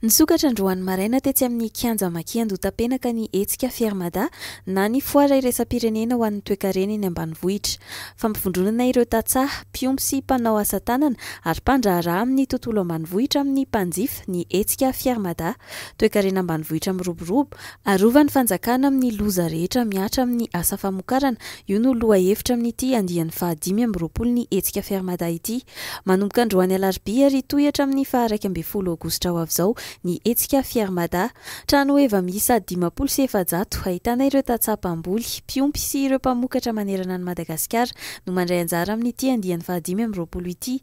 Nisokatra androany maraina tetsy amin'ny Kianja Maki Andohatapenaka ny hetsika Fier Mada na ny foara iraisam-pirenena ho an'ny toekarena eny ambanivohitra. Fampivondronana ireo tantsaha, mpiompy sy mpanao asa tanana ary mpandraharaha amin'ny tontolo ambanivohitra amin'ny mpanjifa ny hetsika Fier Mada, toekarena ambanivohitra miroborobo, arovan'ny fanjakana amin'ny loza rehetra mihatra amin'ny asa famokarana, io no lohahevitra amin'ity andiany fahadimy amby roapolo ny hetsika Fier Mada ity. Manomboka androany alarobia ary hitohy hatramin'ny faha iraika ambin'ny folo aogositra ho avy izao ny hetsika Fier Mada. Trano heva miisa dimampolo sy efajato, ahitana ireo tantsaha mpamboly, mpiompy sy ireo mpamokatra manerana an'i Madagasikara no mandray anjara amin'ity andiany fahadimy amby roapolo ity.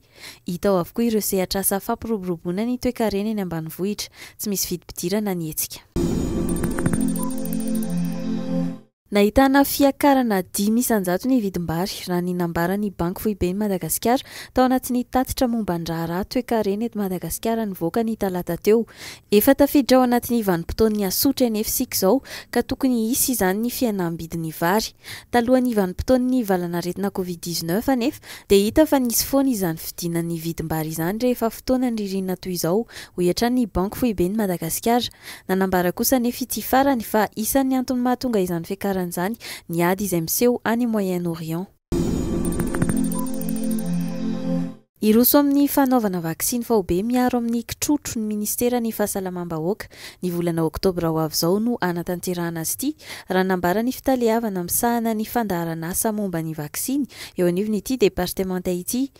Hita ao avokoa ireo sehatr'asa fampiroboroboana ny toekarena eny ambanivohitra. Tsy misy vidim-pidirana ny hetsika. Nahitana fiakarana dimy isan-jato ny vidim-bary, raha ny nambaran'ny Banky Foiben'i Madagasikara, tao anatin'ny tatitra momba ny raharaha toekarena eto Madagasikara nivoaka ny talata teo. Efa tafiditra ao anatin'ny vanim-potoan'ny asotry an'efy isika izao ka tokony hisy izany ny fihenam-bidin'ny vary. Talohan'ny vanim-potoan'ny valanaretina Covid dix-neuf anefa dia hita fa nisy foana izany fidinan'ny vidim-bary izany rehefa fotoanan'ny ririnina toy izao, hoy hatrany ny Banky Foiben'i Madagasikara. Nanambara kosa anefa ity farany fa isan'ny antony mahatonga izany fiakarana izany ny ady izay miseho any Moyen-Orient. Hiroso amin'ny fanaovana vaksiny faobe miaro amin'ny kitrotro ny Ministeran'ny Fahasalamam-bahoaka. Ny volana oktobra ho avy izao no hanatanterahana azy ity, raha nambara ny fitaleavana misahana ny fandaharan'asa momba ny vaksiny eo anivon'ity departemanta ity.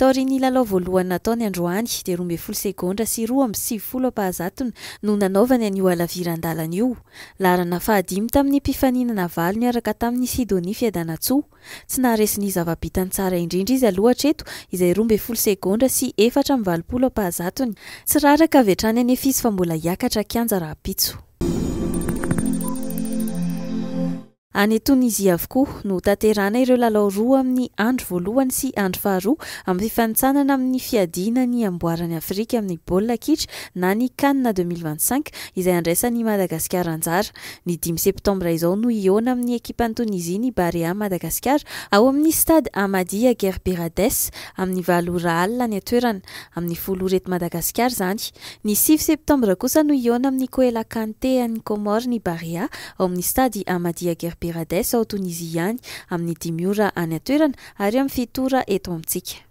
Taorian'ny lalao voalohany nataony androany dia roa ambin'ny folo segondra sy roa amby sivifolo am-pahazatony no nanaovany an'io halaviran-dalana io. Laharana fahadimy tamin'ny mpifaninana valo niaraka tamin'i Sidonie Fiadanantsoa. Tsy naharesy ny zava-bitany tsara indrindra izy aloha hatreto izay roa ambin'ny folo segondra sy efatra amby valopolo am-pahazatony. Tsy raraka avy hatrany anefa izy fa mbola hiakatra kianja rahampitso. Any Tonizia avokoa no hotanterahana ireo lalao roa amin'ny andro voalohany sy andro faharoa amin'ny fifanintsanana amin'ny fiadiana ny amboaran'i Afrika amin'ny baolina kitra na ny Can deux mille vingt cinq izay handraisan'i Madagasikara anjara. Ny dimy septambra izao no hihaona amin'ny ekipan'i Tonizia ny Barea Madagasikara ao amin'ny Stade Ahmadiyya Gerberades amin'ny valo ora alina any an-toerana, amin'ny folo ora eto Madagasikara izany. Ny sivy septambra kosa no hihaona amin'ny Koela Kante any Comores ny Barea ao amin'ny Stade Ahmadiyya Gerberadès ao Tonizia ihany, amin'ny dimy ora any an-toerana ary amin'ny fito ora eto amintsika.